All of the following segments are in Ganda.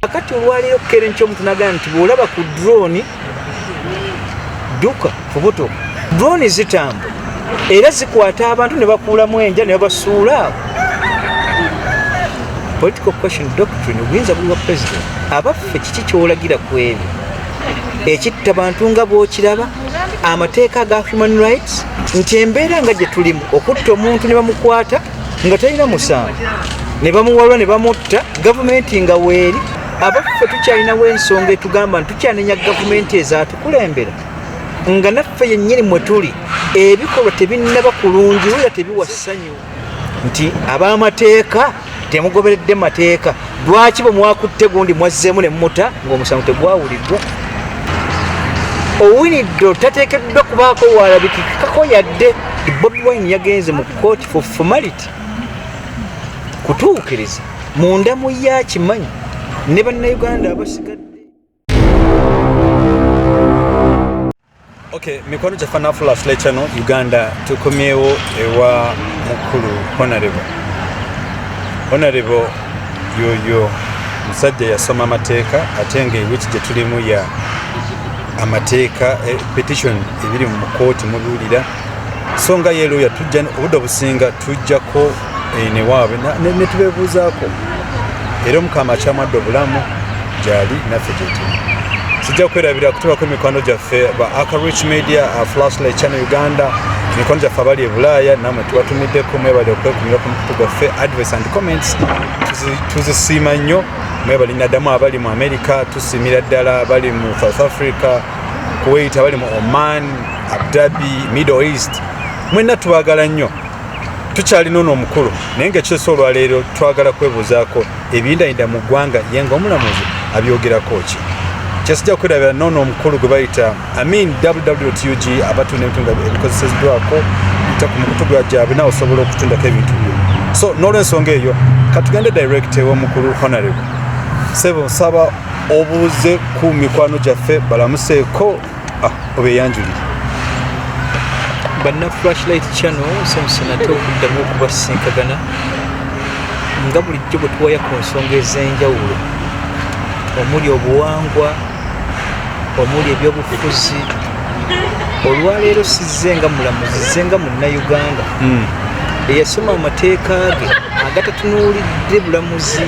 kakati olwaleero kukera enkyo omuntu nagamba nti bwolaba ku drone duka kubuto drone zitamba era zikwata abantu ne bakuulamu enja ne babasuula awo political question doctrine obuyinza buli bwa president abaffe kiki kyolagira ku ebyo ekitta bantu nga bwokiraba amateeka ga human rights nti embeera nga gye tulimu okutta omuntu ne bamukwata nga talina musango ne bamuwalwa ne bamutta gavumenti nga weeri abaffe tukyalinawo ensonga etugamba nti tukyanenya gavumenti ezatukulembera nga naffe yennyini mwe tuli ebikolwa tebinnaba kulungi wera tebiwa ssanyu nti abamateeka temugoberedde mateeka lwaki bwe mwakutte gundi mwazzeemu ne muta ng'omusango tegwawuliddwa owiniddo tateekeddwa kubaako waalabikikako yadde bobi wine yagenze mu kooti for formality kutuukiriza munda mu ye akimanyi ne bannayuganda abasigadde Okay, mikwano gyaffe nafula sule channel uganda tukomyewo ewa mukulu honarebo honarebo yoyo musajja yasoma amateeka ate nga ewiki gye tulimu ya amateeka e, petition ebiri mu kooti mubiwulira so nga yeloya tujja obudde obusinga tujjako eh, newaabwe netubebuuzaako era omukama akyamadde obulamu gyali naffe gyetuli sijja kwerabira kutubako emikwano gyaffe ba acarich media uh, flashlight channel uganda emikwano gyaffe abali e bulaaya namwe tubatumiddeko mwebali okwekumira ku mukutu gwaffe advice and comments tuzisiima nnyo mwebali naddamu abali mu america tusiimira ddala abali mu south africa kuwait abali mu oman abdabi middle east mwenna tubagala nnyo tukyalina ono omukulu naye nga kyesa olwaleero twagala kwebuuzaako ebiyindayinda mu ggwanga ye nga omulamuzi abyogerako ki kyesijja kwerabira noono omukulu gwe bayita amin wwtug abatunda ebitundu ebikozeseddwako ta ku mukutu gwa gyabwe nawe osobola okutundako ebintu byo so n'olwensonga eyo katugende direct ew'omukulu honarable sebo nsaba obuuze ku mikwano gyaffe balamuseeko Ah, obeyanjulire banna flashlight channel samusana ate okuddamu okubasinkagana nga bulijjo bwe tuwaya ku nsonga ez'enjawulo omuli obuwangwa omuli ebyobufuzi olwaleero sizze nga mulamuzi zze nga munnayuganda hmm. eyasoma amateeka ge agatatunuulidde bulamuzi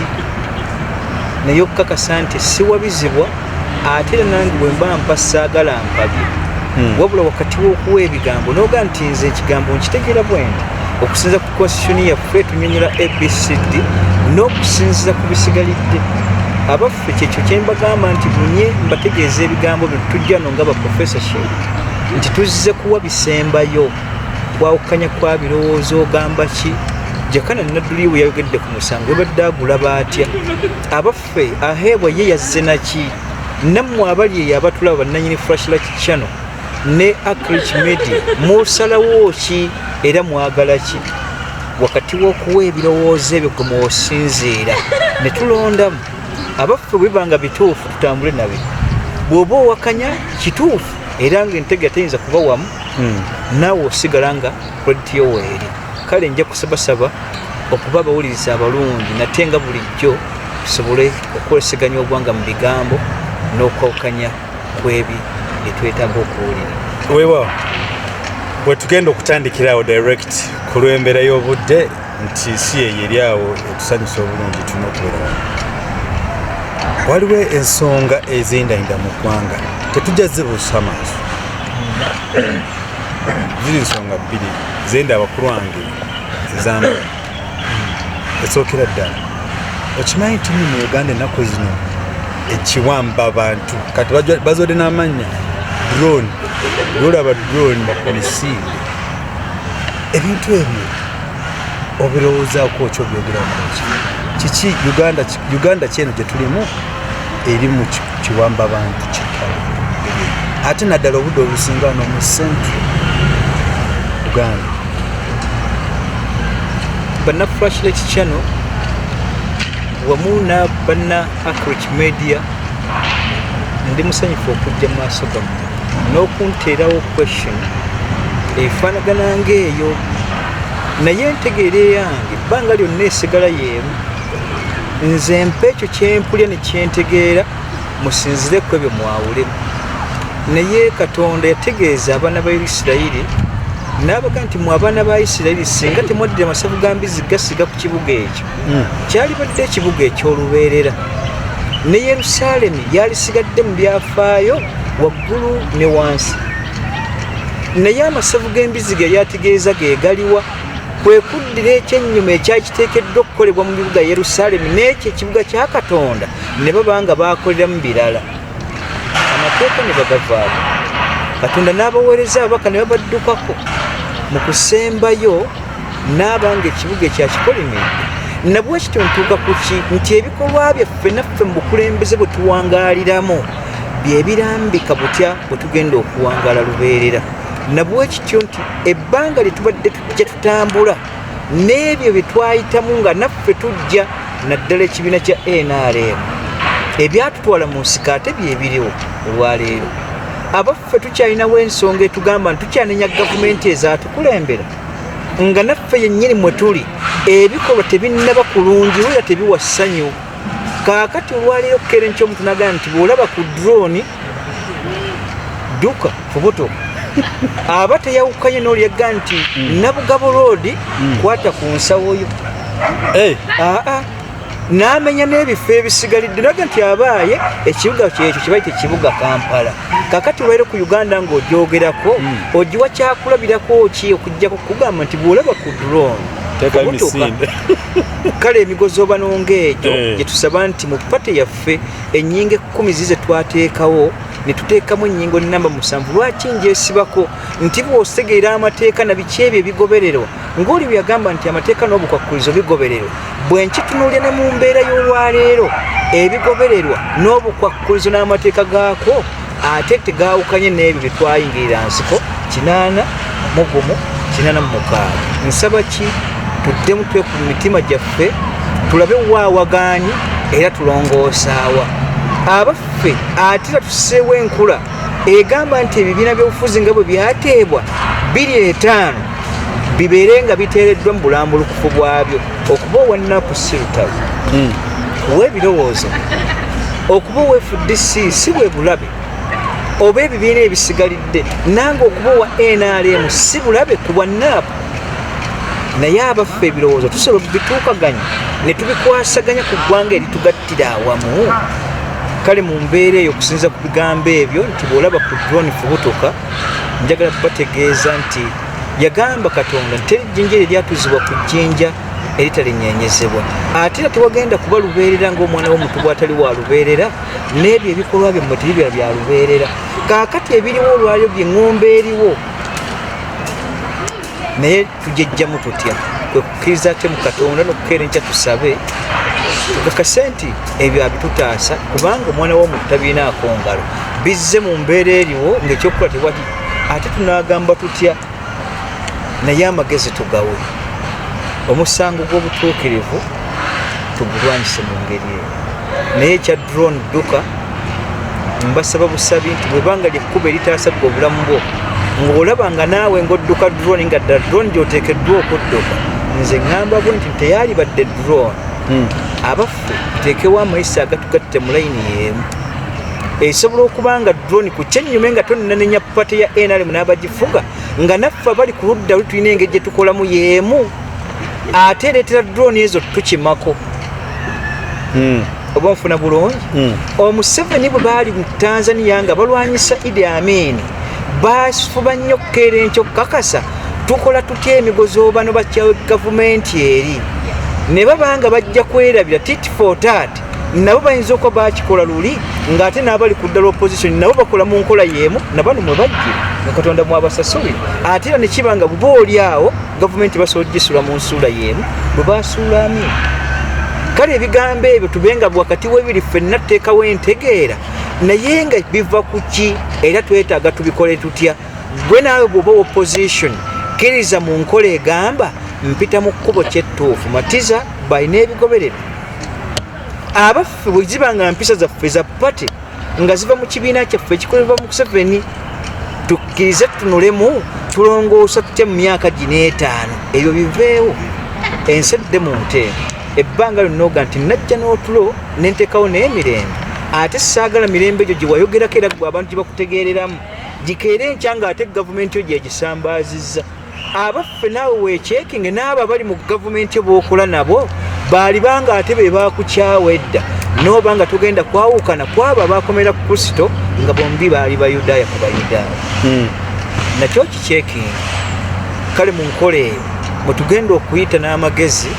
naye okukakasa nti siwabizibwa ate nange bwemba mpa saagala mpabye hmm. wabula wakati w'okuwa ebigambo noga nti nze ekigambo nkitegeera bwendi okusinza ku constitution yaffe tunyonyola abcd n'okusinziza ku bisigalidde abaffe kyekyo kyembagamba nti bunye mbategeeza ebigambo bino tujja no nga baprofessorship nti tuzze kuwa bisembayo kwawukanya kwa birowoozo ogamba ki jakana nadduli bwe yayogedde ku musango ebadde agula baatya abaffe ffe aheebwa ye yazze naki nammwe abali eyo abatulaba bannanyini frashlight channel ne acrich media musalawo ki era mwagala ki wakati w'okuwa ebirowoozo ebyo gwe mwosinziira ne tulondamu abaffe bwebiba nga bituufu tutambule nabe bw'oba owakanya kituufu era nga entege teyinza kuba wamu hmm. naawe osigala nga krediti yoweeri kale nja kusabasaba okuba abawuliriza abalungi nate nga bulijjo tusobole okwoleseganya ogwanga mu bigambo n'okwawukanya kwebi byetwetaaga okuwulira wewa wetugenda okutandikira awo direct ku lw'embeera y'obudde nti si yeyo eri awo etusanyusa obulungi tulina okubeerawo waliwo ensonga ezendayinda mu ggwanga tetujja zibuusa maaso ziri nsonga bbiri zenda abakulu wange ezamu esookera ddala okimanyi nti mu uganda ennaku zino ekiwamba abantu kati bazode n'amannya drone lolaba drone bapolisi ebintu ebyo obirowoozaako okyobyogerakoki kiki uganda kyeno gye tulimu eri mu kiwamba bantu kitala ate naddala obudde obusinga no mu central uganda banna frashlet channel wamu na banna acrich media ndi musanyufu okujja mu maaso gamu n'okunteerawo question efaanagana ngaeyo naye ntegeera eyange ebbanga lyonna esigala yeemu nze mpa ekyo kyempulya nekyentegeera musinzire ku ebyo mwawulemu naye katonda yategeeza abaana ba isirayiri nabaga nti mu abaana ba isirayiri singa temwaddira masavu ga mbizi gasiga ku kibuga ekyo hmm. kyalibadde ekibuga ekyolubeerera ne yerusaalemi yalisigadde mu byafaayo waggulu ne wansi naye amasavu g'embizi ge yategeeza ge galiwa kwe kuddira ekyennyuma ekyali kiteekeddwa okukolebwa mu bibuga yerusaalemi n'ekyo ekibuga kya katonda ne baba nga baakoleramu birala amateeka ne bagavaako katonda n'abaweereza ababaka ne babaddukako mu kusembayo n'aba nga ekibuga ekyakikolimidde nabwe kityo ntuuka ku ki nti ebikolwa byaffe naffe mu bukulembeze bwe tuwangaaliramu bye birambika butya bwe tugenda okuwangaala lubeerera nabwe kityo nti ebbanga lye tubadde tujja tutambula n'ebyo bye twayitamu nga naffe tujja naddala ekibiina kya nrm ebyatutwala mu nsika ate byebiriwo olwaleero abaffe tukyalinawo ensonga etugamba nti tukyanenya gavumenti ezatukulembera nga naffe yennyini mwe tuli ebikolwa tebinnaba kulungi wera tebiwa ssanyu kaakati olwaleero kukera enkyo omuntu nagamba nti bwolaba ku drone dduka fubuto aba teyawukanye n'olyaga nti mm. nabugabo roodi mm. kwata ku nsawoyo eh. aa n'amenya n'ebifo ebisigalidde naga nti abaaye ekibuga kyekyo kibaite kibuga kampala kakati olwaire ku uganda ng'ogyogerako mm. ogiwa kyakulabirako ki okujjako kugamba nti bwolaba ku drone tekayo misinde kale emigozoobanonga egyo eh. gyetusaba nti mu pate yaffe enyinga ekkumi zize twateekawo netuteekamu enyingo namba musanvu lwaki njesibako nti bwosegeera amateeka na biki ebyo ebigobererwa ngaoli bweyagamba nti amateeka n'obukwakkulizo bigobererwa bwenkitunulya ne mu mbeera y'olwaleero ebigobererwa n'obukwakkulizo n'amateeka gaako ate tegaawukanye n'ebyo bye twayingirira nsiko kinaana mugumu kinaana mu mukaaga nsaba ki tuddemu twe ku mitima gyaffe tulabe waawagaanyi era tulongoosaawa abaffe ate era tuseewo enkula egamba nti ebibiina by'obufuzi nga bwe byateebwa biri etaano bibeere nga biteereddwa mu bulambulukufu bwabyo okuba owannaku si lutalo hmm. kuwa ebirowoozo okuba owefudde si si bwe bulabe oba ebibiina ebisigalidde nange okuba owa nrm si bulabe ku bwannaapu naye abaffe ebirowoozo tusobola okubituukaganya ne tubikwasaganya ku ggwanga eritugattira awamu kale mu mbeera eyo okusinza ku bigambo ebyo nti bw'olaba ku drone fubutuka njagala kubategeeza nti yagamba katonda nti teri jjinja eryo lyatuzibwa ku jjinja eritalinyenyezebwa ate era tewagenda kuba lubeerera ngaomwana womuntu bwatali wa lubeerera n'ebyo ebikolwa bye mumutiri bya bya lubeerera kaakati ebiriwo olwalyo bye ng'omba eriwo naye tujejjamu tutya kwe kukkiriza kye mu katonda n'okukeera enkya tusabe tukakase nti ebyo abitutaasa kubanga omwana w'omuntu tabirinaako ngalo bizze mu mbeera eriwo ng'ekyokukola tewali ate tunagamba tutya naye amagezi tugawe omusango gw'obutuukirivu tugulwanyise mu ngeri eyo naye ekya drone dduka mbasaba busabi nti bwebanga lyekkuba eritaasabga obulamu bwo ng'olaba nga naawe ng'odduka drone nga dda drone gyoteekeddwa okudduka nze ŋŋamba bwe nti teyalibadde drone hmm. abaffe tuteekewo amayisa agatugatte mu layini y'emu esobola okuba nga drone ku kyenyume nga tonanenya pate ya nrm n'abagifuga nga naffe abali ku ludda luli tulina engeri gye tukolamu yeemu ate ereetera drone ezo tukimako hmm. oba nfuna bulungi hmm. omuseveni bwe baali mu tanzania nga balwanyisa idi amini bafuba nnyo okukeera enkyo okukakasa tukola tutya emigozoobano bakya gavumenti eri ne baba nga bajja kwerabira tit for tat nabo bayinza okuba bakikola luli ng'ate n'abali ku ddala opposition nabo bakola mu nkola y'emu nabano mwe bajje nga katonda mwabasasuli ate era ne kiba nga buba oli awo gavumenti basobola ogisula mu nsuula y'emu bwe basuulamu kale ebigambo ebyo tube nga wakati w'ebiri ffenna tuteekawo entegeera naye nga biva ku ki era twetaaga tubikole tutya gwe naawe bwoba opposition kkiriza mu nkola egamba mpita mu kkubo kyettuufu matiza balina ebigobererwa abaffe bwe ziba nga mpisa zaffe za pate nga ziva mu kibiina kyaffe ekikolebwa mu kuseveni tukkirize tunulemu tulongoosa tutya mu myaka gino etaano ebyo biveewo ensi edde mu nteeko ebbanga lyonna oga nti najja n'otulo nenteekawo n'emirembe ate saagala mirembe egyo gye wayogerako era gwe abantu gye bakutegeereramu gikeere enkya nga ate gavumenti yo gyegisambaazizza abaffe naawe wekyekinge n'abo abali mu gavumenti bookola nabo baaliba nga ate be baakukyawa edda n'oba nga tugenda kwawukana kwabo abaakomera ku kristo nga bombi baali bayudaaya ku bayudaaya hmm. nakyo kikyekinge kale mu nkola eyo mwe tugenda okuyita n'amagezi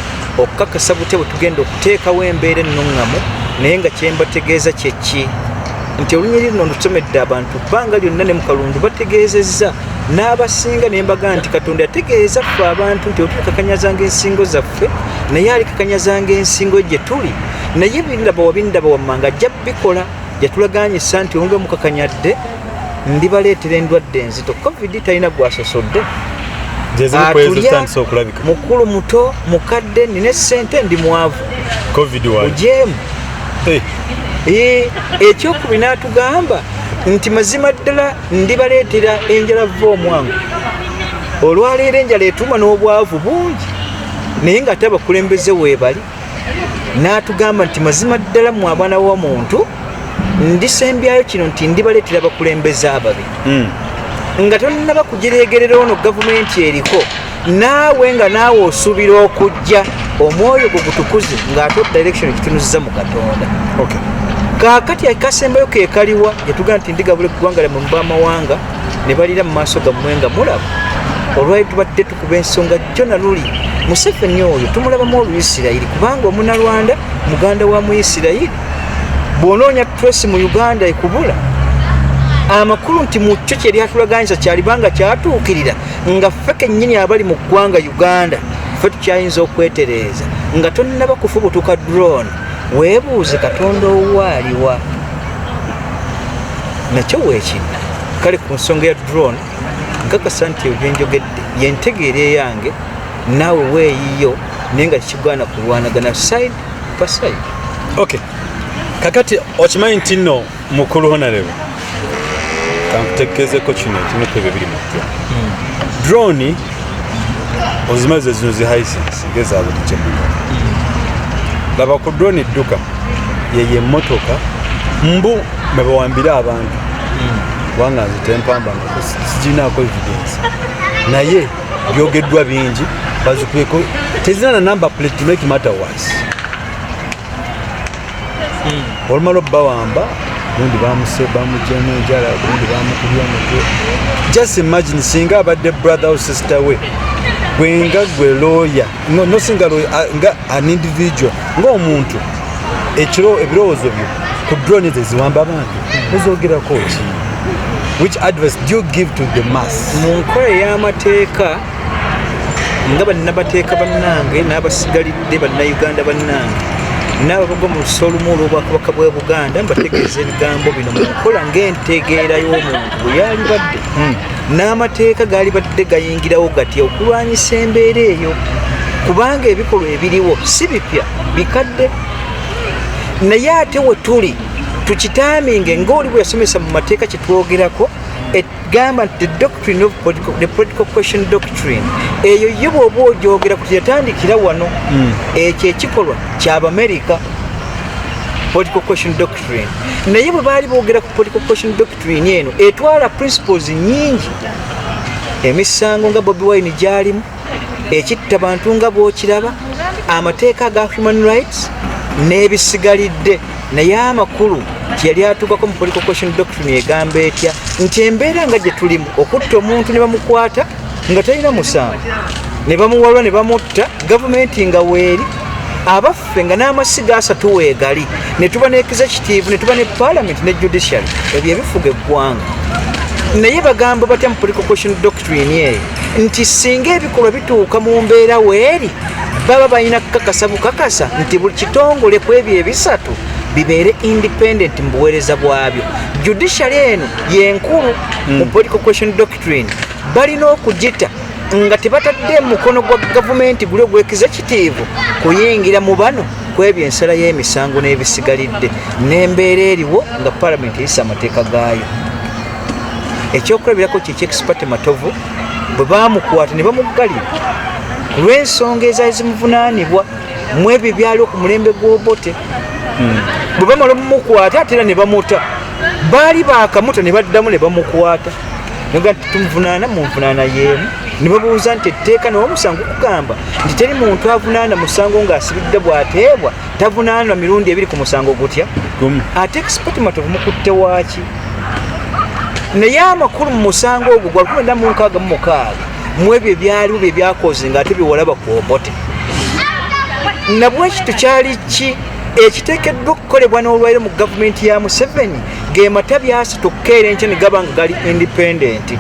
okukakasa butya bwe tugenda okuteekawo embeera ennuŋŋamu naye nga kyembategeeza kyekki nti olunyiriri no lusomedde abantu bbanga lyonna ne mu kalundu bategeezezza n'abasinga ne mbaga nti katonda yategeeza ffe abantu nti otulikakanyazanga ensingo zaffe naye alikakanyazanga ensingo gye tuli naye bindaba wabindaba wammanga ajja bikola yatulaganyisa nti onga mukakanyadde ndibaleetera endwadde enzito covid talina gwasosodde atulya mukulu muto mukadde nina esente ndi mwavu ojeemu eh. eh, ekyokubinaatugamba nti mazima ddala ndibaleetera enjala vva omwangu olwaleero enjala etuma n'obwavu bungi naye nga ate abakulembeze weebali n'atugamba nti mazima ddala mu abaana wa muntu ndisembyayo kino nti ndibaleetera abakulembeze ababi hmm. nga tonnaba kugireegerera ono gavumenti eriko naawe nga naawe osubira okujja omwoyo gwe gutukuze ng'ate direction ekitunuziza mu katonda kakati akasembayo kekaliwa yetugamba nti ndigabula eggwanga lyamwe mu bamawanga ne balira mu maaso gammwe nga mulaba olwali tubadde tukuba ensonga jjo na luli museveni oyo tumulabamu oluisirayiri kubanga omunalwanda muganda wa muisirayiri bwonoonya tresi mu uganda ekubula amakulu nti mu kyo kyeryatulaganyiza kyalibanga kyatuukirira nga ffe kennyini abali mu ggwanga uganda ffe tukyayinza okwetereeza nga tonnaba kufubutuka drone weebuuze katonda owaaliwa nakyo weekinna kale ku nsonga ya drone nkakasa nti ebyo byenjogedde yentegeera eyange naawe weeyiyo naye nga kigwana kulwanagana side pa side okay kakati okimanyi nti nno mukulu honarebo kankutegeezeko kino ekimu ku ebyo biri mu ddwa drone ozimazi ezino zi hisense ngezabutikyemuna laba ku drone edduka yeyo emmotoka mbu mebawambire abantu kubanga nzitempamba sijinaako evidence naye byogeddwa bingi bazikuyeko tezina na number plate to make matter worse hmm. olumala obbawamba gundi bamuse bamujemu enjala gundi bamukubya omutwe just imagine singa abadde brother or sister we gwenga gwe lawyer no, no singa lawyer uh, nga an individual ng'omuntu ekiro ebirowoozo byo ku drone zeziwamba abantu ozogerako ki which advice do you give to the mass mu nkola ey'amateeka nga bannamateeka bannange n'abasigalidde bannayuganda bannange n'ababagwa mu lusa olumu olw'obwakabaka bwa buganda mbategeeza ebigambo bino mu nkola ng'entegeera y'omuntu bwe yalibadde hmm. n'amateeka gaalibadde gayingirawo gatya okulwanyisa embeera eyo kubanga ebikolwa ebiriwo si bipya bikadde naye ate we tuli tukitaaminge ng'oli bwe yasomesa mu mateeka kye twogerako gamba nti the doctrine of political, the political question doctrine eyo ye bwoba ogyogera kuti yatandikira wano hmm. ekyo ekikolwa kyabamerika political question doctrine naye bwe baali boogera ku political question doctrine eno etwala principles nyingi emisango nga bobi wine gyalimu ekitta bantu nga bwokiraba amateeka ga human rights n'ebisigalidde naye amakulu kyeyali atuukako mu political question doctrine egamba etya nti embeera nga gye tulimu okutta omuntu ne bamukwata nga talina musango ne bamuwalwa ne bamutta gavumenti nga weeri abaffe nga n'amasiga asatu weegali ne tuba ne executive ne tuba ne palamenti ne judiciary ebyo ebifuga eggwanga naye bagamba batya mu political question doctrine eyo nti singa ebikolwa bituuka mu mbeera weeri baba balina kukakasa bukakasa nti buli kitongole ku ebyo ebisatu bibeere independent mu buweereza bwabyo judiciary eno yenkulu hmm. mu political question doctrine balina okugita nga tebatadde mukono gwa gavumenti guli ogwekiza kitiivu kuyingira mu bano kwebyo ensala y'emisango n'ebisigalidde n'embeera eriwo nga palamenti eyisa amateeka gaayo ekyokulabirako kye kyexpate matovu bwe bamukwata ne bamuggalira ku lw'ensonga ezaali zimuvunaanibwa mu ebyo ebyaliwo ku mulembe gw'obote hmm. bwe bamala omumukwata ate era ne bamuta baali bakamuta ne baddamu ne bamukwata noga nti tumuvunaana mu nvunaana y'emu ne babuuza nti etteeka newamusango okugamba nti teri muntu avunaana musango ng'asibidde bw'ateebwa tavunaanwa mirundi ebiri ku musango gutya ate expotimative mukutte waaki naye amakulu mu musango ogwo gwa lukumi na munkaaga mu mukaaga mu ebyo ebyaliwo bye byakoze nga ate byewalaba ku obote nabwekito kyali ki ekiteekeddwa okukolebwa n'olwaire mu gavumenti ya museveni ge matabi asatu okukeera enkyo ne gaba nga gali independenti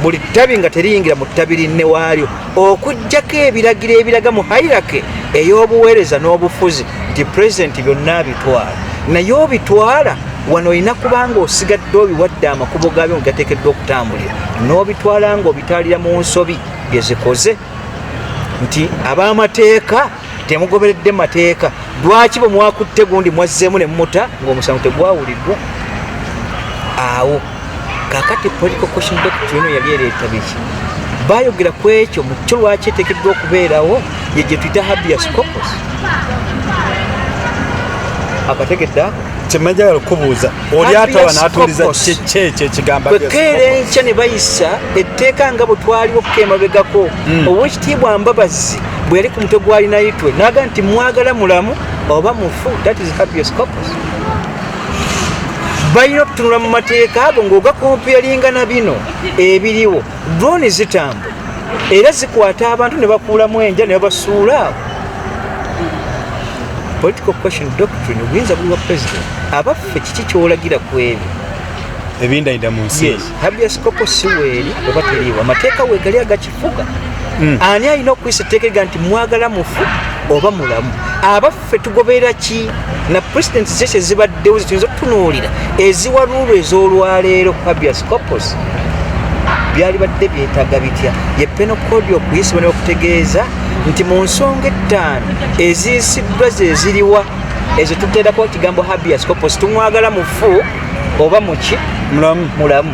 buli ttabi nga teriyingira mu ttabi linne waalyo okujjako ebiragiro ebiraga mu hairake ey'obuweereza n'obufuzi nti pulezidenti byonna abitwala naye obitwala wano olina kubanga osigadde obiwadde amakubo gaabyo nga gateekeddwa okutambulira n'obitwala nga obitwalira mu nsobi gezikoze nti ab'amateeka temugoberedde mateeka lwaki bwe mwakutte gundi mwazzeemu ne mumuta ng'omusango tegwawuliddwa awo kakati political question doctor eno yali ereeta biki bayogera ku ekyo mu kyo lwaki eteekeddwa okubeerawo ye gye tuyita habias copos akategedde ako kyemajagala okubuuza oli ataba natuliza kyekyo ekigambo kwekeera enkya ne bayisa etteeka nga bwe twaliwo kukeemabegako hmm. owekitiibwa mbabazi bwe yali ku mutwe gw'alinayitwe n'aga nti mwagala mulamu oba mufu that is hapios couples balina okutunula mu mateeka ago ng'ogakompeyalinga na bino ebiriwo droni zitambula era zikwata abantu ne bakuulamu enja ne babasuula awo political question doctrine obuyinza buli bwa president abaffe kiki kyolagira ku ebyo ebindayida mu nsi habias kopo siweeri oba teriiwo amateeka wegali agaki fuga mm. ani alina okuyisa etteeka ega nti mwagala mufu oba mulamu abaffe tugoberera ki na president zese zibaddewo zituyinza okutunuulira eziwaluulu ez'olwaleero habias copos byali badde byetaaga bitya ye penokodi okuyisibwa ne okutegeeza nti mu nsonga ettaano eziyisiddwa zeziriwa ezo tuteerako ekigambo habias copos tumwagala mufu oba muki mulamu mulamu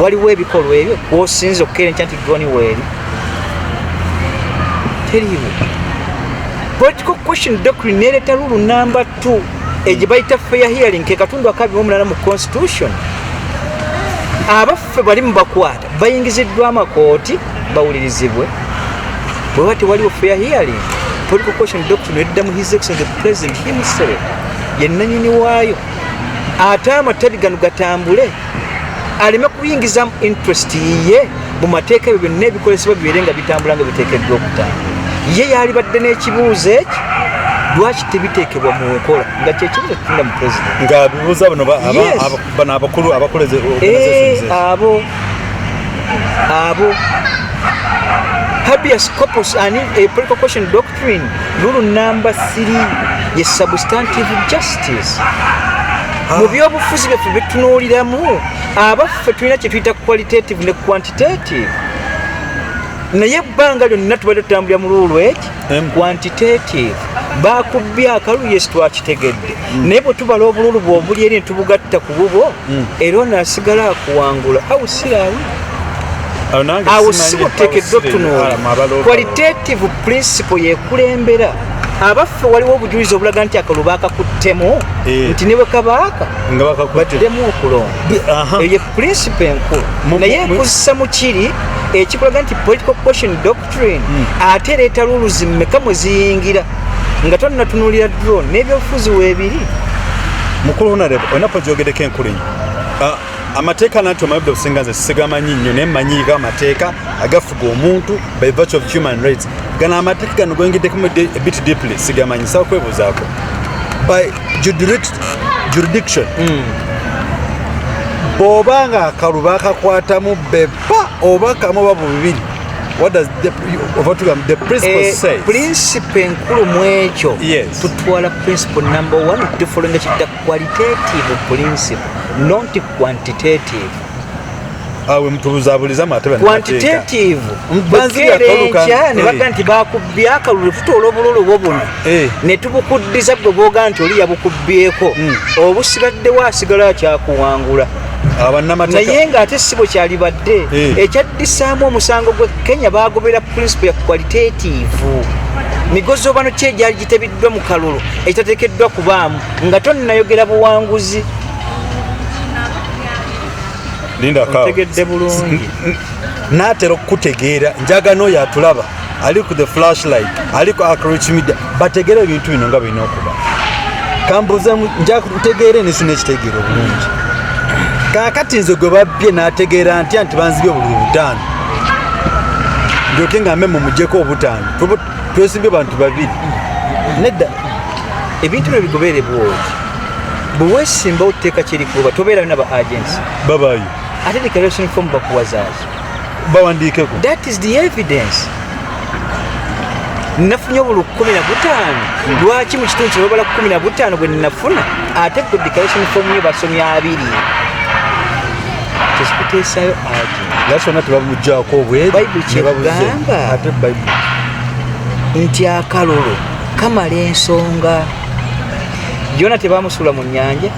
waliwo ebikolwa ebyo kwosinza okukerenkya nti goni weeri teriiwo political question doctrine nereeta lulu namba t egye bayita fair hearing ke katundu akabi omulala mu constitution abaffe bali mubakwata bayingiziddwa amakooti bawulirizibwe bweba tewaliwo fair hearing political question doctrine edda mu his excellence the president himself yenanyini waayo ate amatabi gano gatambule aleme kuyingizamu interest yiye mu mateeka ebyo byonna ebikozesebwa bibeere nga bitambula nga biteekeddwa okutambula ye yalibadde n'ekibuuzo ekyo lwaki tebiteekebwa mu nkola nga kyekibuzo kitunda mu president nga bibuuza bano bano abakulu abakoleze eh, abo abo habeas corpus ani a political question doc Catherine Lulu number 3 ye substantive justice ah. mu byobufuzi byaffe byetunuuliramu abaffe tulina kyetuyita qualitative ne quantitative naye ebbanga lyonna tubadde tutambulira mu luulu eki quantitative bakubbye akalulu yesi twakitegedde mm. naye bwe tubala obululu bwe obuli eri ne tubugatta ku bubwo hmm. era ono asigala akuwangula au sirawo awo si buteekeddwa otunuula qualitative principle yekulembera abaffe waliwo obujulizi obulaga nti akalo bakakuttemu eh. nti niwe kabaaka batudemu okulonda eyo ye principle enkulu naye ekuzisa mukiri ekikulaga nti political question train hmm. ate leeta luluzi mmeka mwe ziyingira nga tonnatunulira drone n'ebyobufuzi weebiri mukulu honarebo olina pojogedeko enkulu enyo ah, amateeka nanti omayobda obusinga nze sigamanyi nnyo naye manyiiga amateeka agafuga omuntu by virtue of human rights gano amateeka gano gwengideko bit deeply sigamanyi sawa kwebuuzaako by jurisdiction hmm. bw'oba nga akalu bakakwatamu pa oba kamu oba bubiri principe enkulu mu ekyo tutwala principle number one tufulenga kidda qualitative principle not quantitative awe mutubuzabuliza mate bana quantitative mbanzi ya kaluka ne baga nti bakubye akalulu futola obululu bobuna eh. ne tubukuddiza bwe boga nti oli yabukubyeko hmm. obusibadde wasigala kyakuwangula naye nga ate sibo kyalibadde eh. ekyaddisaamu omusango gwe kenya bagobera principle ya qualitative migozi obano ki egyali gitebiddwa mu kalulu ekitatekeddwa kubaamu nga tonayogera buwanguzi tegedde bulungi natera okukutegeera njagana oyo atulaba ali ku the flashlight ali ku acroach media bategere ebintu bino nga birina okuba kambuze nja ntegeere nesu nekitegeera obulungi kakati nze gwe babbye nategeera ntya nti banzibye obululu butaano ndyoke nga mbe mumujeko obutaano twesimbye bantu babiri nedda ebintu byo bigoberebwooki bwewesimba oteeka kyerikuba tobeerayo naba agents babayo ate declaration form bakuwazaazi bawandiikeko that is the evidence nafunye obulu kumi na butaano hmm. lwaki mu kitundu kyebabala kumi na butaano bwe nafuna ate ku declaration form yo basomi abiri kyekikuteesayo ati yasona tebamujjako obwebaibulkyegamba ate baibuli nti akalulu kamala ensonga yona tebamusuula mu nyanja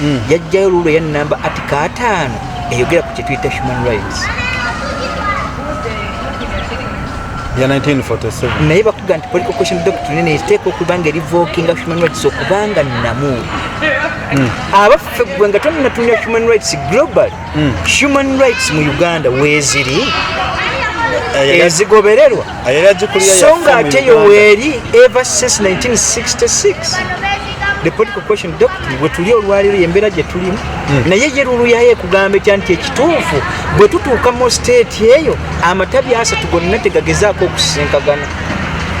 mm. yajjayo mm. luulo ya namba ati kataano eyogera ku kyetuyita human rights ya 1947 naye bakuga nti political question doctrine ne take okuba nga eri voking of human rights okuba nga namu hmm. abaffe gwe nga tonnatunira human rights global hmm. human rights mu uganda weziri eh, ezigobererwa so nga ate yo weeri ever since 1966 the political question doctrine bwetuli olwaleero yembeera gyetulimu hmm. naye ye lulu yayo ekugamba etya nti ekituufu bwe tutuuka mu state eyo amatabi asatu gonna tegagezaako okusinkagana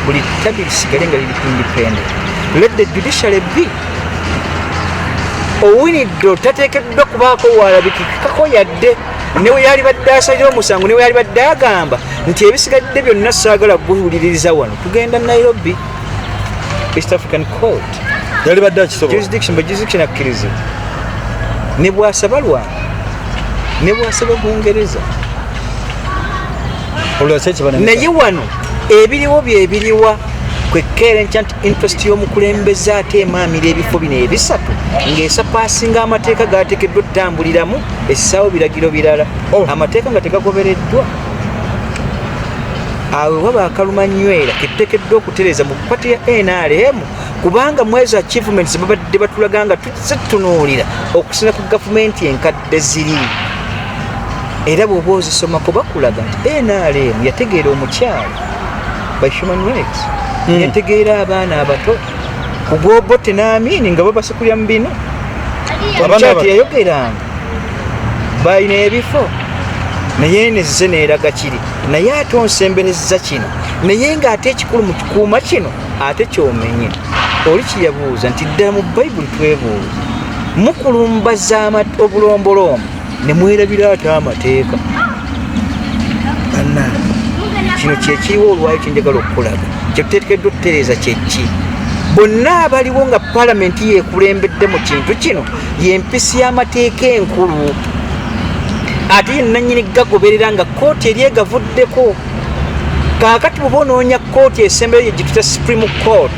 buli tabi lisigale nga liri independent let the judiciary be owinidde otateekeddwa kubaako waalabikikako yadde newe yalibadde asalira omusango newe yalibadde agamba nti ebisigadde byonna saagala kuwuliririza wano tugenda nairobi east african court yalibadde akisoboajurisdiction akkiriza nebwasaba lwanga nebwasaba bungereza naye wano ebiriwo byebiriwa kwekkeera enkya nti interest y'omukulembeze ate emaamira ebifo bino ebisatu ng'esapaasinga amateeka gaateekeddwa okutambuliramu essaawo biragiro birala oh. amateeka nga tegagobereddwa awe waba akaluma nywera ketutekeddwa okutereza mu pati ya nrm kubanga mwezi achievements babadde batulaga nga tuze tutunuulira okusina ku gavumenti enkadde eziri era bwoba ozisomako bakulaga nti nrm yategeera omukyalo by human rights hmm. yategeera abaana abato kugwobote naamini nga babasikulya mu bino omukyalo teyayogeranga balina ebifo naye nezze neeraga kiri naye ate onsemberezza kino naye ng'ate ekikulu mu kikuuma kino ate kyomenye oli kyeyabuuza nti ddala mu bayibuli twebuuza mukulumbaza obulombolombo ne mwerabira ate amateeka banna kino kyekiriwo olwayo kyenjagala okukulaga kyetuteekeddwa okutereeza kyekki bonna abaliwo nga palamenti yekulembedde mu kintu kino yempisi y'amateeka enkulu ate yenanyini gagoberera nga kooti eri egavuddeko kaakati buba onoonya kooti esembeyo yegituta supreme court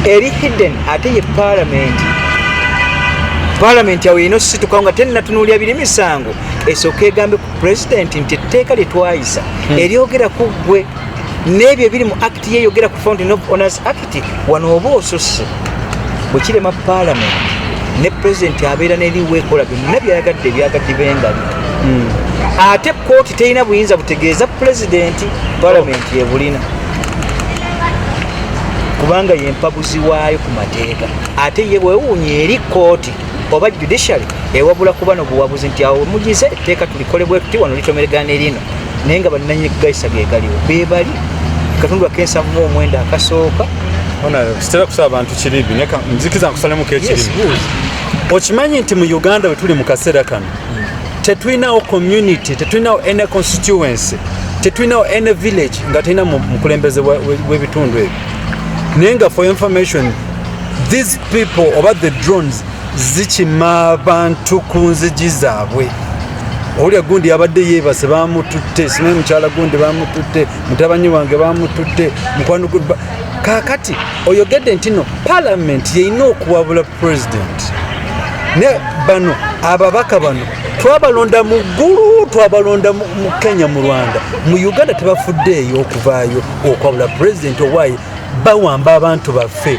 eri hidden ate ye palamenti palamenti awo yina ositukawo nga tennatunulya biri misango esooka egambe ku pulezidenti nti etteeka lyetwayisa hmm. eryogera ku ggwe n'ebyo ebiri mu act yeyogera ku fountain of honors act nti wano oba osusse bwe kirema paalamenti ne pulezidenti abeera neriwo ekola byonna byayagadde ebyagadde bengali hmm. ate kooti terina buyinza butegeeza pulezidenti paalamenti yebulina kubanga yempabuzi waayo ku mateeka ate ye bwewuunya eri kooti oba judiciary ewabula kuba nobuwabuzi nti awo mugize etteeka tulikolebwetuti wano litomeregana erino naye nga bananyini kugayisa gegaliwo bebali katundu akensavu mu omwenda akasooka sitera kusaba bantu kiribi nzikiza nkusalemu kekiribi okimanyi nti mu uganda wetuli mu kaseera kano tetulinawo community tetulinawo any constituency tetulinawo any village nga tulina mukulembeze w'ebitundu ebyo naye nga for information these people oba the drones zikima abantu ku nzigi zaabwe owulira gundi yabadde yeebase bamututte simanyi mukyala gundi bamututte mutabanyi wange bamututte mukwano kakati oyogedde nti no palamenti yeyina okuwabula president ne bano ababaka bano twabalonda mu ggulu twabalonda mu kenya mu rwanda mu uganda tebafuddeeyo okuvaayo okwabula president owaye bawamba abantu baffe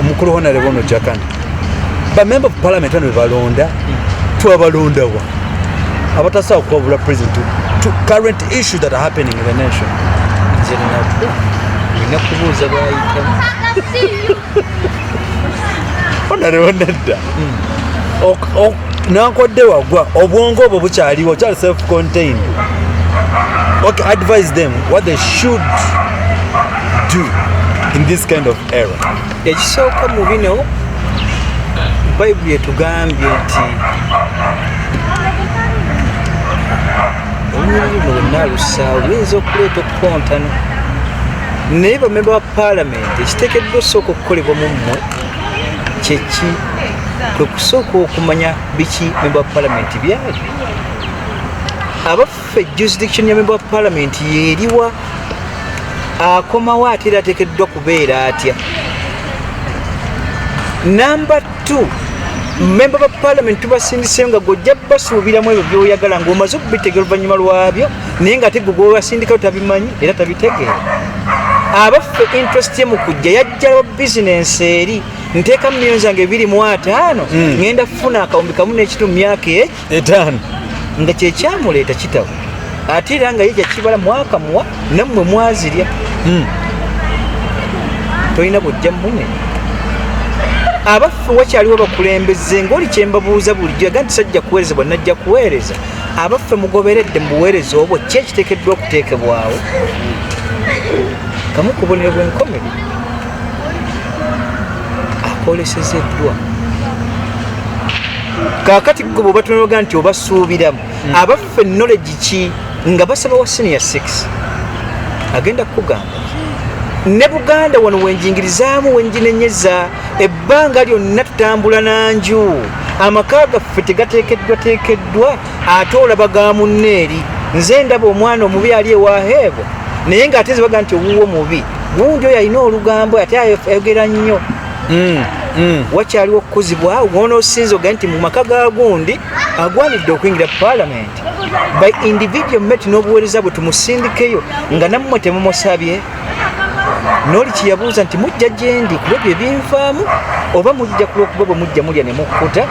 omukulu honarebo ono jakana bamemba of parliament ano bebalonda twabalondawa abatasawa kuwabula president to current issue that are happening in the nation nakubuuza bwayitamu honarebo nedda hmm. nankodde wagwa obwongo obwo bukyaliwo kyali self contained okay advise them what they should do in this kind of ekisooka mu bino bayibuli etugambye nti olunyiriri mu lwonna alusaawo luyinza okuleeta okukontana naye bamemba ba paalamenti ekiteekeddwa osooka okukolebwa mu mmwe kyeki kwe kusooka okumanya biki memba wa paalamenti byali ffe jurisdiction ya member of parliament yeriwa akomawo ate era atekeddwa kubeera atya number two member ba parliament tubasindiseyo nga gojja basuubiramu ebyo byoyagala ngaomaze okubitegera oluvanyuma lwabyo naye nga ate gwe gwewasindikayo tabimanyi era tabitegeera abaffe interest ye mu kujja yajjalawo bizinensi eri nteeka mumiyoni zange ebiri mu ataano hmm. ŋenda kufuna akawumbi kamu n'ekitu mu myaka eki etaano nga kyekyamuleeta kitabo ate era nga ye kyakibala mwaka muwa nammwe mwazirya hmm. tolina bujja mune abaffe wakyaliwo bakulembeze ngaoli kyembabuuza bulijjo aga nti sajja kuweereza bwa najja kuweereza abaffe mugoberedde mu buweereza obwo ki ekiteekeddwa okuteekebwawo kamu kubonero bwenkomere akolesezeddwa kakati gwe bwebatunoga nti obasuubiramu hmm. abaffe knowledge ki nga basaba wa senior 6 agenda kukugamba ne buganda wano wenjingirizaamu wenjinenyeza ebbanga lyonna tutambula nanju amaka gaffe tegatekeddwa tekeddwa ate olaba ga munne eri nze ndaba omwana omubi ali ewaheebo naye ngaate zibaga nti owuwo mubi gundi oyo alina olugambo ate ayogera nnyo mm, mm. wakyaliwo okukuzibwa wonoosinza oga nti mu maka ga gundi agwanidde okuyingira palamenti by individual met n'obuweereza bwe tumusindikeyo nga nammwe temumusabye noli kyeyabuuza nti mujja gyendi kulwebyo ebinvaamu oba mujja kulwokuba bwe mujja mulya ne mukkuta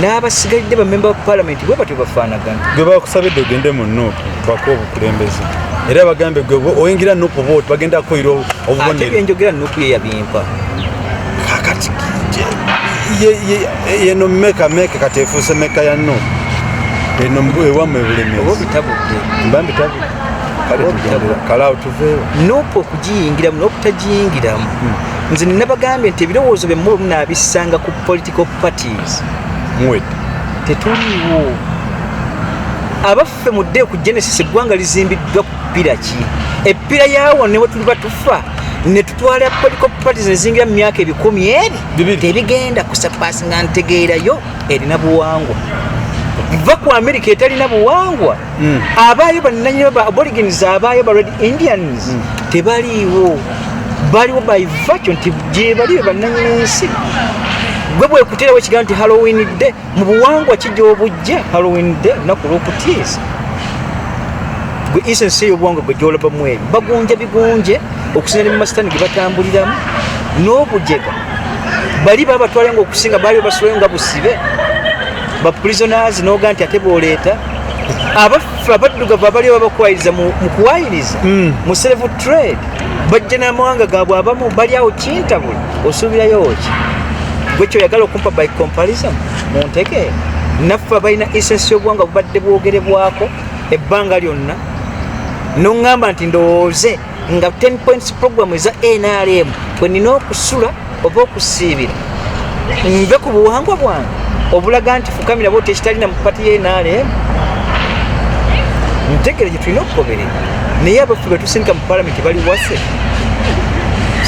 n'abasigalidde bamemba ba palamenti bwe batyo bafaanagana gwe bakusabidde ogende mu nuupu bako obukulembeze era bagambe gwe oyingira nuupu oba oti bagenda kukoyira obubonero byenjogera nuupu ye yabimpa kakati yeno meka meka kati efuuse meka ya nuupu eno ewamwe bulemezi oba obitabudde mba mbitabudde kale tugendera kale awo tuveewo nuupu okugiyingiramu n'okutagiyingiramu hmm. nze nabagambye nti ebirowoozo bye muba munaabissanga ku political parties mwed tetuliiwo abaffe mudde ku genesis eggwanga lizimbiddwa ku ppira ki eppira yaawo ne wetuliba tufa ne tutwala political parties nezingira mu myaka ebikumi eri tebigenda kusapasinga ntegeerayo erina buwangwa va ku amerika etalina buwangwa mm. abaayo bananyini ba aborigins abaayo ba red indians mm. tebaliiwo baliwo by virtue nti gyebali be bananyini nsi gwe bwekuterawo ekigambo nti halloween day mu buwangwa kijja obujja halloween day naku lwokutiisa gwe isensi eyo obuwangwa gwe gyolabamu ebyo bagunja bigunje okusinzira mu masitani ge batambuliramu n'obujega bali babatwala nga okusinga baali basulayo nga busibe baprisonazi noga nti ate boleeta abaffe abaddugavu abali ababakwayiriza mu kuwayiriza hmm. mu serevu trade bajja n'amawanga gaabwe abamu bali awo kintabula osuubirayo ki gwe kyoyagala okumpa by comparison mu nteke naffe abalina esensi y'obuwanga bubadde bwogerebwako ebbanga lyonna noŋŋamba nti ndowooze nga 10 points program eza nrm bwe nina okusula oba okusiibira nve ku buwangwa bwange obulaga nti fukamira bwoti ekitalina mu pati ya nrm ntegere gye tulina okugoberera naye abaffe bwe tusindika mu palamenti bali wase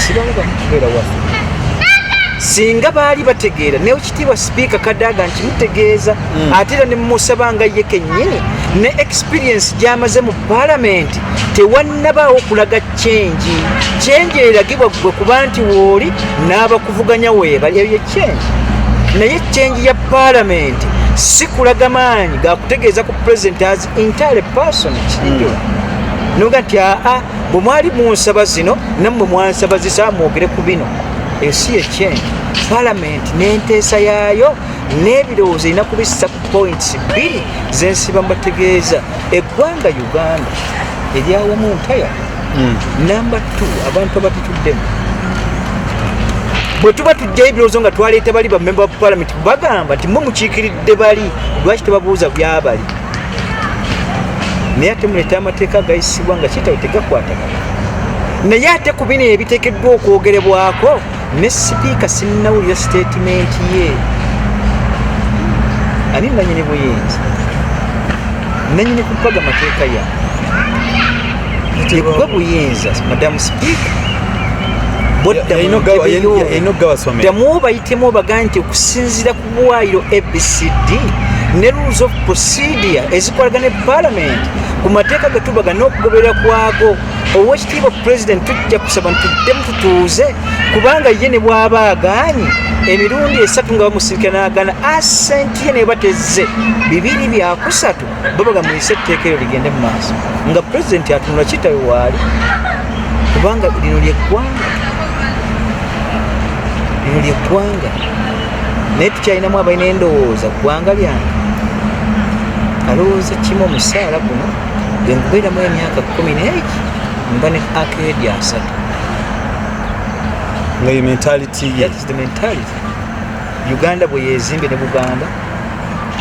sibangu bamukubeera wase singa baali bategeera naye ekitiibwa sipiika kadaaga nti mutegeeza hmm. ate era ne mumusaba nga ye kennyini ne experience gyamaze mu palamenti tewannabaawo kulaga kyengi kyengi eragibwa gwe kuba nti wooli n'abakuvuganya weebali ebyo kyengi naye kyengi ya palamenti si kulaga maanyi gakutegeeza ku pulezidenti as entire person kinjo hmm. noga nti aa bwe mwali munsaba zino nammwe mwansaba zisa mwogere ku bino ensi yekyengi palamenti n'enteesa yaayo n'ebirowoozo erina kubissa ku points bbiri zensiba mbategeeza eggwanga uganda eryawamu ntaya hmm. namba t abantu abatituddemu bwe tuba tujjayo ebirowoozo nga twaleeta bali bamemba ba palamenti bagamba nti mwe mukiikiridde bali lwaki tebabuuza byabali naye ate muleeta amateeka agayisibwa nga kitawe tegakwatagana naye ate ku bino ebiteekeddwa okwogerebwako ne sipiika sinnawulira sitatimenti ye ani nanyini buyinza nanyini kupaga mateeka ya yekuba buyinza madamu sipiika boddamu obayitemu obaga nti okusinzira ku bwayiro abcd ne rules of procedure ezikolagana epalamenti ku mateeka getubaga n'okugoberera kwago owekitiibwa president tujja kusaba ntuddemu tutuuze kubanga ye ne bwaba agaanyi emirundi esatu nga bamusirika nagana asenti ye neba tezze bibiri byakusatu babaga muyise etteeka eryo ligende mu maaso nga pulezidenti atunula kitawe waali kubanga lino lyeggwanga lino lyeggwanga naye tukyalinamu abalina endowooza ggwanga lyange alowooza kimu omusaala guno bwenkubeeramu emyaka kumi neegi mba ne akeedi asatu ngayo mentality ye the mentality uganda bwe yezimbe ne buganda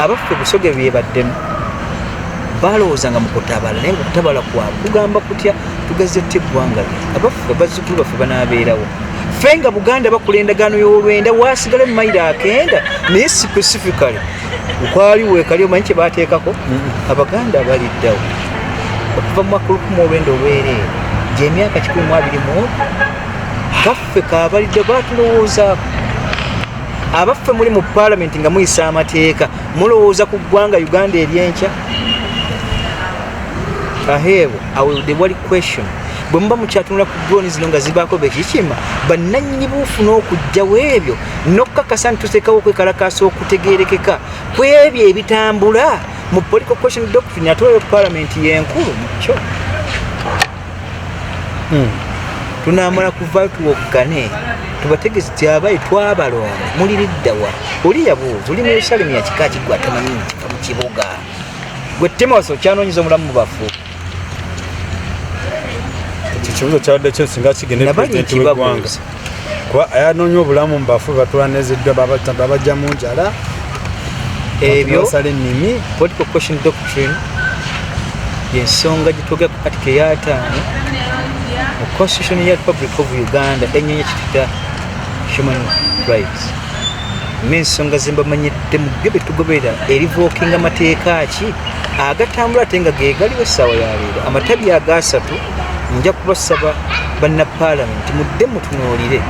abaffe busoge byebaddemu balowooza nga mukutabala naye ngaokutabala kwabwe kugamba kutya tugazze tuta eggwanga lye abaffe bazzukulu baffe banaabeerawo fe nga buganda bakola endagaano y'olwenda waasigale mu mayiro akenda naye specifically ukwali wekali omanyi kyebateekako mm-hmm. abaganda abaliddawo okuva mu makulukumu olwenda olwereere gyemyaka kikumi mu abiri mu kaffe kabalidde batulowoozaako abaffe muli mu palamenti nga muyisa amateeka mulowooza ku ggwanga uganda eryenkya aheebwa awulde wali question bwe muba mukyatunula ku droni zino nga zibaako bekikima bannannyini buufu n'okujjawo ebyo n'okukakasa nti tuteekawo okwekalakaasa okutegeerekeka ku ebyo ebitambula mu political question doctrine ate oyo palamenti yenkulu mukyo hmm. tunamala kuva tuwoggane tubategezi tyabayi twabalonda muli liddawa oli yabuuza oli muyerusalemu yakika kigwa tamanyi nti mu kibuga gwe timosi okyanonyeza omulamu mu bafu ekyo kibuzo kyabadde kyo singa kigende pulezidenti w'eggwanga kuba ayanoonya obulamu mu bafu batulaneziddwa babajja mu njala ebyo basala ennimi political question doctrine yensonga gyetwogera ku katika eyataano mu constitution ya republic of uganda enyonyi kitita human rights n'ensonga ze mbamanyidde mugge bye tugoberera erivookinga mateeka ki agatambula ate nga ge galiwo essaawa ya leero amatabi agaasatu nja kubasaba banna paalamenti mudde mutunuulire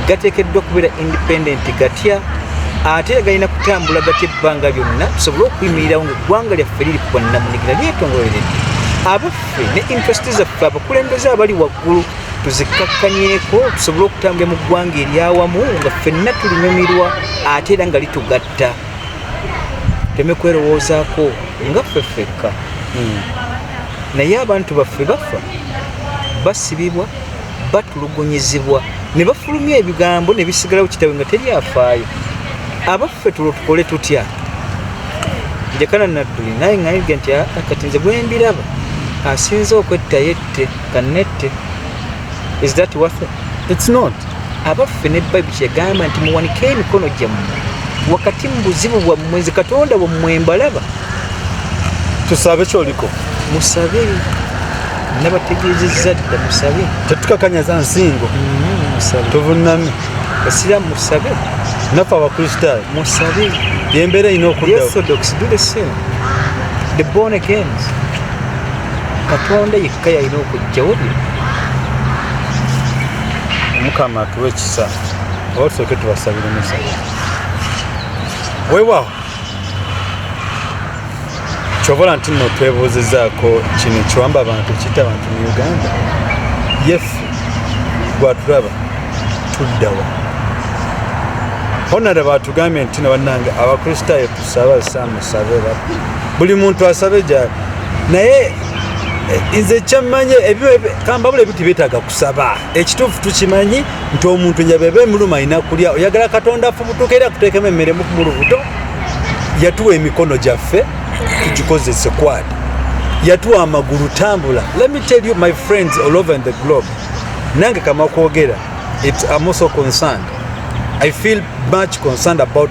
gateekeddwa okubeera independent gatya ate era galina kutambula gatya ebbanga lyonna tusobole okuyimirirawo nga eggwanga lyaffe liri ku bwannamunigina lyetongololeredde abaffe ne interest zaffe abakulembeze abali waggulu tuzikkakkanyeko tusobole okutambula mu ggwanga eryawamu nga ffenna tulinyumirwa ate era nga litugatta teme kwerowoozaako nga ffe ffekka hmm. naye abantu baffe bafa basibibwa batulugunyizibwa ne bafulumya ebigambo ne bisigalawo kitawe nga teri afaayo abaffe tulo tukole tutya njakana nadduli naye ngayige nti ah, kati nze gwembiraba asinze okwettayo kanette kanette is that worth it? it's not abaffe ne bible kyegamba nti muwanike emikono gyammwe wakati mu buzibu bwammwe nze katonda wammwe mbalaba tusabe kyoliko musabe nabategeezezza dda musabe tetukakanyaza nsingo mm-hmm, tuvunami esira musabe naffe abakristaayo musabe yembeera erina okuddawo the born agains katonda yekka yalina okujjawo bye omukama atuwa ekisa oba tusooke tubasabire musa wewawo kyobola nti no twebuuzizaako kino ekiwamba abantu ekita abantu mu uganda yefu gwatulaba tuddawa honara batugambye nti no bannange abakristaayo saba sa musabe ba buli muntu asabe ja naye eh, nze kyamanye kamba bule bitu bitaga kusaba ekitufu tukimanyi nti omuntu nyabebe muluma ina kulya oyagala katonda fubutukera kutekeme mere mu kumurubuto yatuwa emikono gyaffe tugikozese kwadi yatuwa amagulu tambula let me tell you my friends all over in the globe nange kama kwogera it's I'm also concerned I feel much concerned about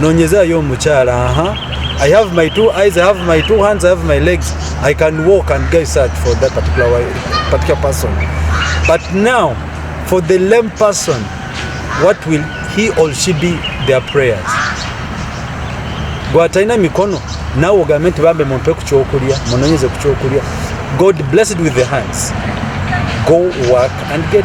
nonyezayo omukyala aha I have my two eyes, I have my two hands, I have my legs. I can walk and get search for that particular, particular person. But now, for the lame person, what will he or she be their prayers? gwatalina mikono nawe ogambe nti bambe mumpe ku kyokulya munonyeze ku kyokulya god blessed with the hands go work and get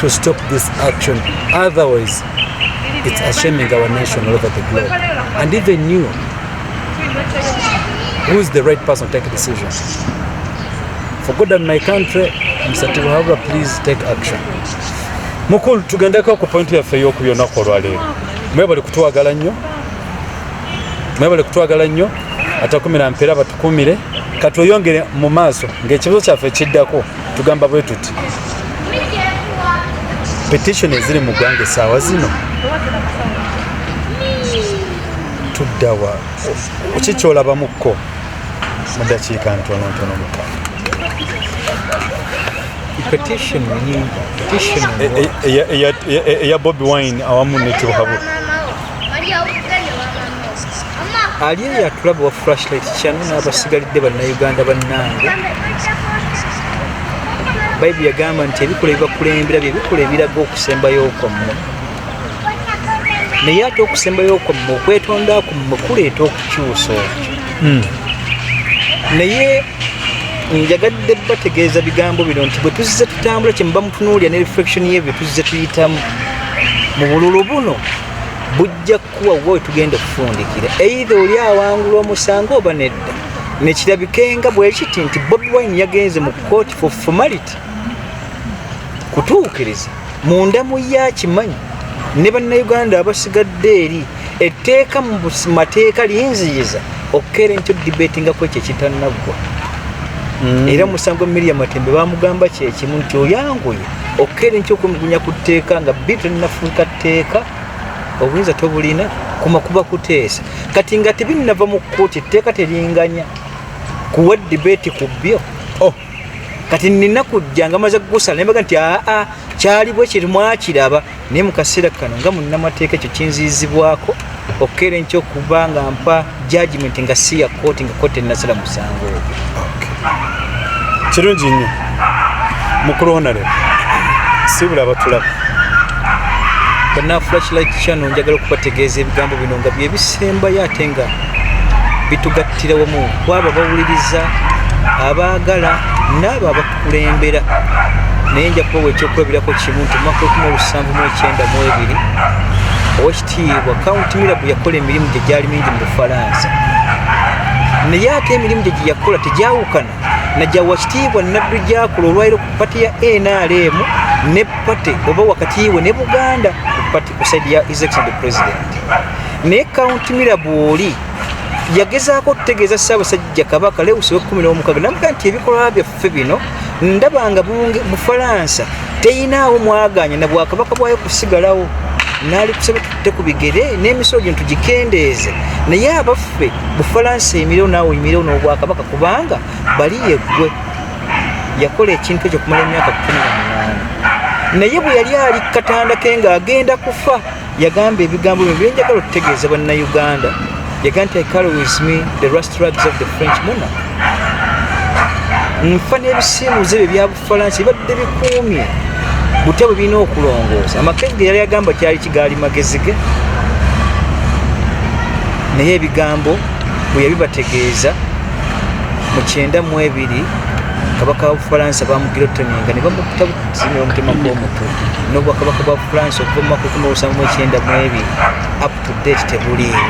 to stop this action otherwise it's ashaming our nation all over the globe and even you who is the right person to take a decision for good and my country Mr. Tibuhabura please take action mukulu tugendeko ku point yaffe ey'oku byonnaku olwaleero mwebale kutwagala nnyo mwebale kutwagala nnyo atakumira mpeera batukumire katweyongere mu maaso ng'ekibuzo kyaffe kiddako tugamba bwe tuti petition eziri mu ggwanga essaawa zino tuddawa ki kyolabamukko mu dakiika ntonontono muka eya bobi wine awamu nekibuhabuka ali eyo atulaba wa flashlight kyano n'abasigalidde bannayuganda bannange bayibuli yagamba nti ebikola ebibakulembera bye bikola ebiraga okusembayo kwammwe naye ate okusembayo kwammwe okwetonda kwammwe kuleeta okukyusa okyo hmm. naye njagadde bategeeza bigambo bino nti bwe tuzze tutambula kyemuba mutunuulira ne reflection ye bye tuzze tuyitamu mu bululu buno bujja kukuwa wa wetugenda okufundikira eitha oli awangula omusango oba nedda nekirabikenga bwekiti nti bobi wine yagenze mu kooti for formality kutuukiriza munda mu ye akimanyi ne bannayuganda abasigadde eri etteeka mu mateeka linziyiza okukera enkyo dibeti nga kwekyo ekitannaggwa mm. era musango miria matembe bamugamba kyekimu nti oyanguye okukera enkyo okumugunya ku tteeka nga bi tolinafuuka tteeka obuyinza tobulina kuma kuba kuteesa kati nga tebinnava mu kkooti etteeka teringanya kuwa dibeti ku byo kati nina kujja nga maze kugusala nembaga nti aa kyali bwe kiri mwakiraba naye mu kaseera kano nga munnamateeka ekyo kinziyizibwako okukeera enkyo okuba nga mpa jajimenti nga si ya kooti nga kooti enasala musango ogwo kirungi nnyo mukulu honare sibula abatulaba banafulakilaki kyano njagala okubategeeza ebigambo bino nga byebisembayo ate nga bitugatta tugattire wamu kwabo abawuliriza abaagala n'abo abakulembera naye nja kubawa ekyokulabirako kimu nti omwaka ekumi olusanvu mu ekyenda mu ebiri owekitiibwa kaunti mirabu yakola emirimu gye gyali mingi mu bufalansa naye ate emirimu gye gye yakola tegyawukana najja wakitiibwa naddu gyakola olwaliro ku pati ya nrm ne pate oba wakatiibwe ne buganda naye kaunti mira bwoli yagezaako okutegeeza ssaabasajja kabaka lewusi wekumi n'omukaga namuga nti ebikolwa byaffe bino ndaba nga bufalansa teyinaawo mwaganya na bwakabaka bwayo kusigalawo naali kusaba tutte ku bigere n'emisolo gino tugikendeeze naye abaffe bufalansa emireo naawe emireo n'obwakabaka kubanga bali yeggwe yakola ekintu ekyo kumala emyaka kumi na munaana naye bwe yali ali katanda ke nga agenda kufa yagamba ebigambo byo byenjagala okutegeeza bannayuganda yagamba nti ikalo with me the rust rags of the french monarch nfa n'ebisiimuuze bye byabufalansa bibadde bikuumye butya bwe birina okulongoosa amakezi ge yali agamba kyali kigaali magezi ge naye ebigambo bwe yabibategeeza mu kyenda mu ebiri kabaka wa bufalansa bamugirotoninga ne bamutta buzimira omutima gw'omutwe n'obwakabaka bwa bufalansa okuva mu mwaka ekumi olusanvu mu ekyenda mu ebiri up to date tebuliiwo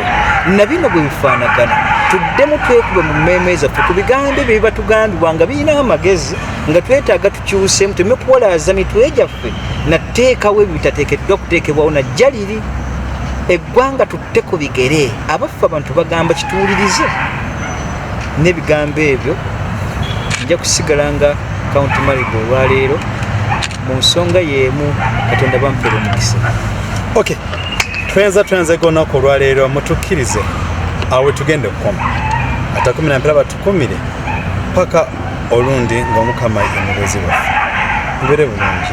na bino bwe bifaanagana tuddemu twekube mu mmeeme zaffe ku bigambo ebyo bibatugambibwa nga birina amagezi nga twetaaga tukyusemu tuleme kuwalaaza mitwe gyaffe lyaffe nateekawo ebyo bitateekeddwa okuteekebwawo najja liri eggwanga tutte ku bigere abaffe abantu bagamba kituwulirize n'ebigambo ebyo nja kusigala nga kaunti marigo olwaleero mu nsonga y'emu katonda bampera omukisa ok twenza twenza egonaku olwaleero mutukkirize awe tugenda okukoma atakumi nampera kumire paka olundi ng'omukama ye mubeezi waffe mubere bulungi